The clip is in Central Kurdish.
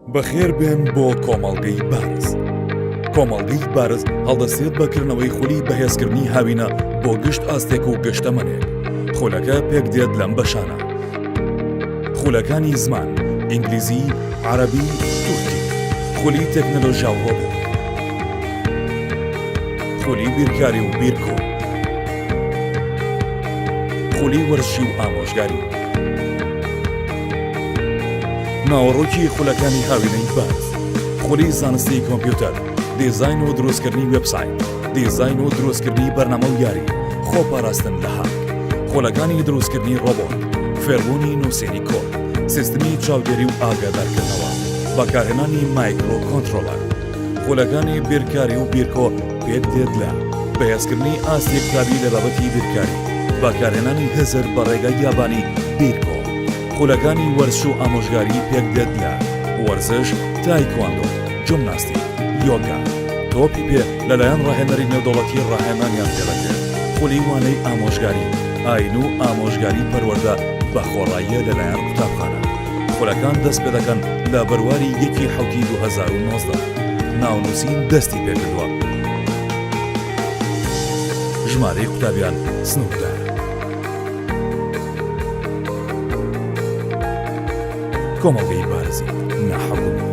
بەخێربێن بۆ کۆمەڵگەی بارز. کۆمەڵگەی بارز هەڵدەسێت بە کردنەوەی خولی بەهێزکردنی هاوینە بۆ گشت ئاستێک و گەشتەمەنێک. خولەکە پێک دێت لەم بەشانە. خولەکانی زمان، ئینگلیزی، عربی، تورکی. خولی تەکنەلۆژیا و ڕۆبۆ. خولی بیرکاری و بیرکۆ. خولی وەرزشی و ئامۆژگاری. ناوەڕۆکی خولەکانی هاوینەی باز خولی زانستی کۆمپیوتەر دیزاین و دروستکردنی وبسایت دیزاین و دروستکردنی بەرنامە و یاری خۆپاراستن لە هاک خولەکانی دروستکردنی ڕۆبۆت فێربوونی نووسێنی کۆر سیستمی چاودێری و ئاگادارکردنەوە بەکارهێنانی مایکرۆ کۆنتترۆلەر خولەکانی بیرکاری و بیرکۆ پێت دێت لە بەهێزکردنی ئاستی قوتابی لە بابەتی بیرکاری، بەکارهێنانی هزر بە ڕێگای یابانی بیرکۆ، خولەکانی وەرزش و ئامۆژگاری پێک دێت لە، وەرزش، تایکواندۆ، جمناستیک، یۆگا، تۆپی پێ لەلایەن ڕاهێنەری نێودەوڵەتی ڕاهێنانیان پێ دەکرێت، خولی وانەی ئامۆژگاری ئاین و ئامۆژگاری پەروەردە بە خۆڕاییە لەلایەن قوتابخانە. خولەکان دەست پێ دەکەن لە بەرواری یەکی حوتی 2019 ناونووسین دەستی پێکردووە ژمارەی قوتابیان سنووردار کۆمەڵگەی بارزی ناحکومی